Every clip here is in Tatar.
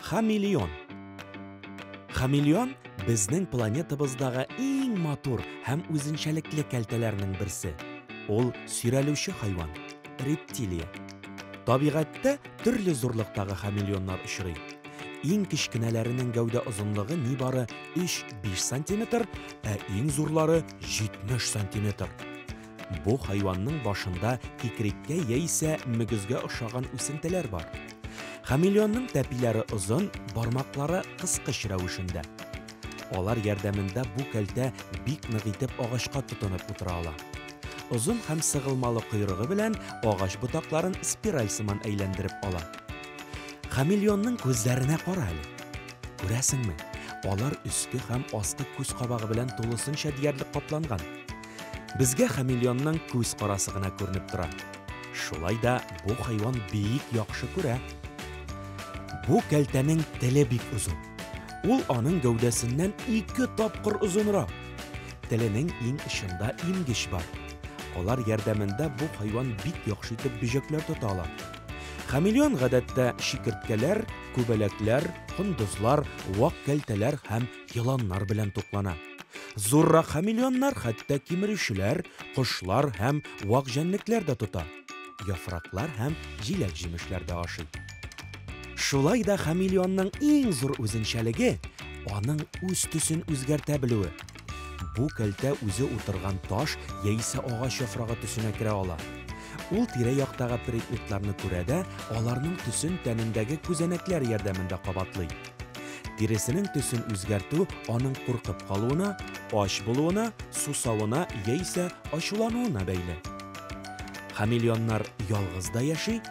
Хамелеон. Хамелеон безнең планетабыздагы иң матур һәм үзенчәлекле кәлтәләрнең берсе. Ул сөйрәлүче хайван, рептилия. Табигатьтә төрле зурлыктагы хамелеоннар очрый. Иң кечкенәләренең гәүдә озынлыгы нибары 3-5 сантиметр, ә иң зурлары 70 сантиметр. Бу хайванның башында кикреккә яисә мөгезгә ошаган үсентеләр бар. Хамелеонның тәпиләре озын, бармаклары кыскыч рәвешендә. Алар ярдәмендә бу кәлтә бик нык итеп агачка тотынып утыра ала. Озын һәм сыгылмалы койрыгы белән агач ботакларын спираль сыман әйләндереп ала. Хамелеонның күзләренә кара әле. Күрәсеңме, алар өске һәм аскы күз кабагы белән тулысынча диярлек капланган. Безгә хамелеонның күз карасы гына күренеп тора. Шулай да бу хайван бик яхшы күрә. Бу кәлтәнең теле бик озын. Ул аның гәүдәсеннән ике тапкыр озынрак. Теленең иң очында имгеч бар. Алар ярдәмендә бу хайван бик яхшы итеп бөҗәкләр тота ала. Хамелеон гадәттә чикерткәләр, күбәләкләр, кондызлар, вак кәлтәләр һәм еланнар белән туклана. Зуррак хамелеоннар хәтта кимерүчеләр, кошлар һәм вак җәнлекләр дә тота. Яфраклар һәм җиләк-җимешләр дә ашый. Шулай да хамелеонның иң зур үзенчәлеге аның үз төсен үзгәртә белүе. Бу кәлтә үзе утырган таш яисә агач яфрагы төсенә керә ала. Ул тирә-яктагы предметларны күрә дә, аларның төсен тәнендәге күзәнәкләр ярдәмендә кабатлый. Тиресенең төсен үзгәртү аның куркып калуына, ач булуына, сусавына яисә ачулануына бәйле. Хамелеоннар ялгыз да яши,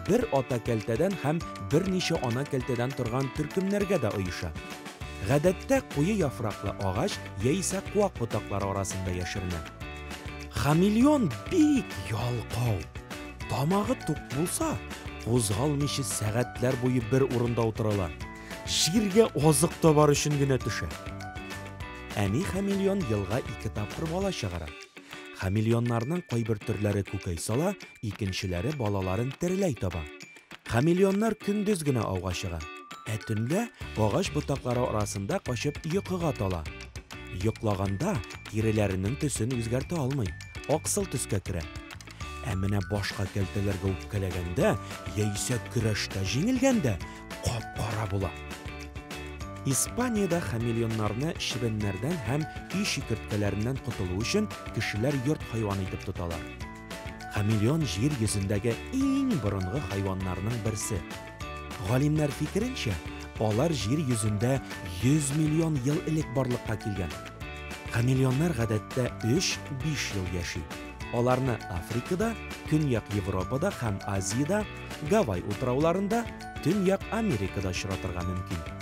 Бер ата кәлтәдән һәм берничә ана кәлтәдән торган төркемнәргә дә оеша. Гадәттә куе яфраклы агач яисә куак ботаклары арасында яшеренә. Хамелеон бик ялкау. Тамагы тук булса, кузгалмыйча сәгатьләр буе бер урында утыра ала. Җиргә азык табар өчен генә төшә. Әни хамелеон елга ике тапкыр бала чыгара. Хамелеоннарның кайбер төрләре күкәй сала, икенчеләре балаларын тереләй таба. Хамелеоннар көндез генә ауга чыга, ә төнлә агач ботаклары арасында качып йокыга тала. Йоклаганда тиреләренең төсен үзгәртә алмый, аксыл төскә керә. Ә менә башка кәлтәләргә үпкәләгәндә яисә көрәштә җиңелгәндә кап-кара була. Испаниядә хамелеоннарны чебеннәрдән һәм өй чикерткәләреннән котылу өчен кешеләр йорт хайваны итеп тоталар. Хамелеон җир йөзендәге иң борынгы хайваннарның берсе. Галимнәр фикеренчә, алар җир йөзендә 100 миллион ел элек барлыкка килгән. Хамелеоннар гадәттә 3-5 ел яши. Аларны Африкада, Көньяк Европада һәм Азиядә, Гавай утрауларында, Төньяк Америкада очратырга мөмкин.